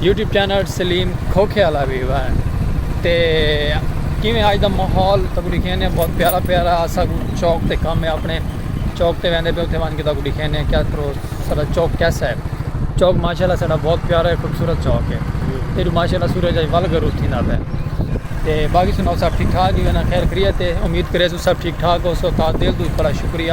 YouTube channel Saleem Khokhe والا بھی ہوا ہے تے کیویں آج دا ماحول تکو دکھینے بہت پیارا پیارا اسا کو چوک تے کم ہے اپنے چوک تے ویندے پہ اتھے وان کے تکو دکھینے کیا کرو سارا چوک کیسا ہے چوک ماشاءاللہ سارا بہت پیارا ہے خوبصورت چوک ہے تے جو ماشاءاللہ سورج آج ول گروز تھی نہ پہ تے باقی سنو سب ٹھیک ٹھاک ہی ہونا خیر خریت ہے امید کرے سو سب ٹھیک ٹھاک ہو سو تا دل دو بڑا شکریہ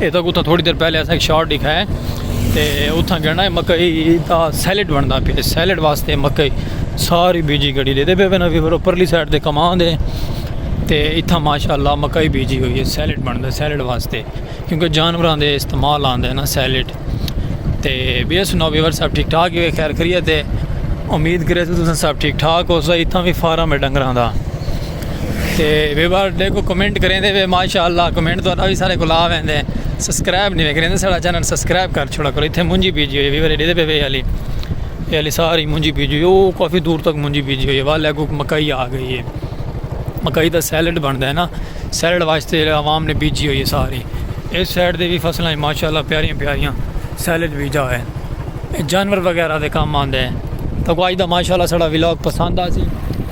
اے تک اتھاں تھوڑی دیر پہلے اساں ایک شارٹ دکھا ہے تے اتھاں گنڈا ہے مکئی دا سیلڈ بندا پیا سیلڈ واسطے مکئی ساری بیجی گڑی دے دے پے بنا پھر اوپرلی سائیڈ تے کماں دے تے اتھاں ماشاءاللہ مکئی بیجی ہوئی ہے سیلڈ بندا سیلڈ واسطے کیونکہ جانوراں دے استعمال آندا ہے نا سیلڈ تے بی ایس نو ویور صاحب ٹھیک ٹھاک ہی خیر خیریت ہے امید کرے تو تساں سب ٹھیک ٹھاک ہو سا اتھاں بھی فارم ہے ڈنگراں دا تے ویبر دیکھو کمنٹ کریں دے ماشاءاللہ کمنٹ تو بھی سارے کلا ویں دے سبسکرائب نہیں کریں دے سارا چینل سبسکرائب کر چھوڑا کرو ایتھے مونجی بیجی ہوئی ویبر ایڈے دے پہ وے علی اے علی ساری مونجی بیجی ہوئی او کافی دور تک مونجی بیجی ہوئی والے اگو مکئی آ گئی ہے مکئی دا سیلڈ بندا ہے نا سیلڈ واسطے عوام نے بیجی ہوئی ہے ساری اس سائڈ دے بھی فصلیں ماشاءاللہ پیاریاں پیاریاں سیلڈ بیجا ہوئے ہیں جانور وغیرہ دے کام آندے ہیں تو آج دا ماشاءاللہ سڑا ولاگ پسند آ سی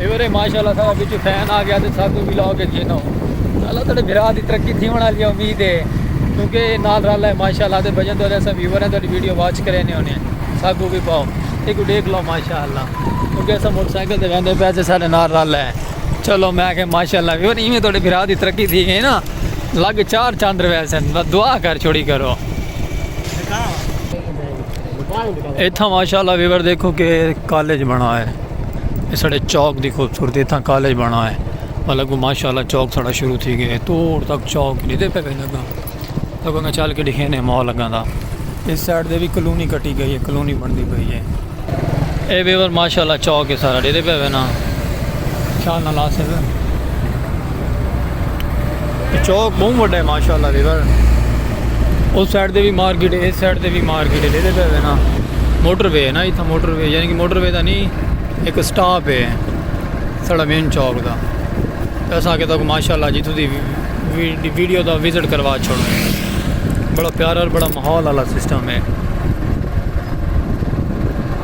ایورے ماشاءاللہ سارا وچ فین آ گیا تے ساکو بھی لاؤ کے جینو اللہ تیرے بھرا دی ترقی تھی ہونا لیا امید ہے کیونکہ نال رل ہے ماشاءاللہ تے بجن تو دے سب ویوریں تو ویڈیو واچ کرے نے ہونے ساکو بھی پاؤ ایک کو دیکھ لو ماشاءاللہ کیونکہ ایسا موٹر سائیکل دے ویندے پیسے سارے نال رل ہے چلو میں کہ ماشاءاللہ ویور ایویں تو دے بھرا دی ترقی تھی گئی نا لگ چار چاندر ویسے دعا کر چھوڑی کرو اتھا ماشاءاللہ ویور دیکھو کہ کالج بنا ہے یہ سڑے چوک دی خوبصورتی اتھا کالج بنا ہے مطلب کو ماشاءاللہ چوک سڑا شروع تھی گئے توڑ تک چوک نہیں دے پہ پہ لگا لگا گا چال کے لکھے نے ماں لگا دا اس سائڈ دے بھی کلونی کٹی گئی ہے کلونی بن دی گئی ہے اے ویور ماشاءاللہ چوک ہے سارا دے دے پہ پہ نا خیال نہ لا سکتا چوک بہت وڈا ہے ماشاءاللہ ریور اس سائڈ دے بھی مارکیٹ ہے اس سائڈ دے بھی مارکیٹ ہے دیدے پہ نا موٹر وے ہے نا اتھا موٹر وے یعنی کہ موٹر وے دا نہیں ایک سٹاپ ہے سڑا مین چوک دا ایسا کہ تک ماشاءاللہ جی تو دی ویڈیو دا وزٹ کروا چھوڑ بڑا پیارا اور بڑا محول اللہ سسٹم ہے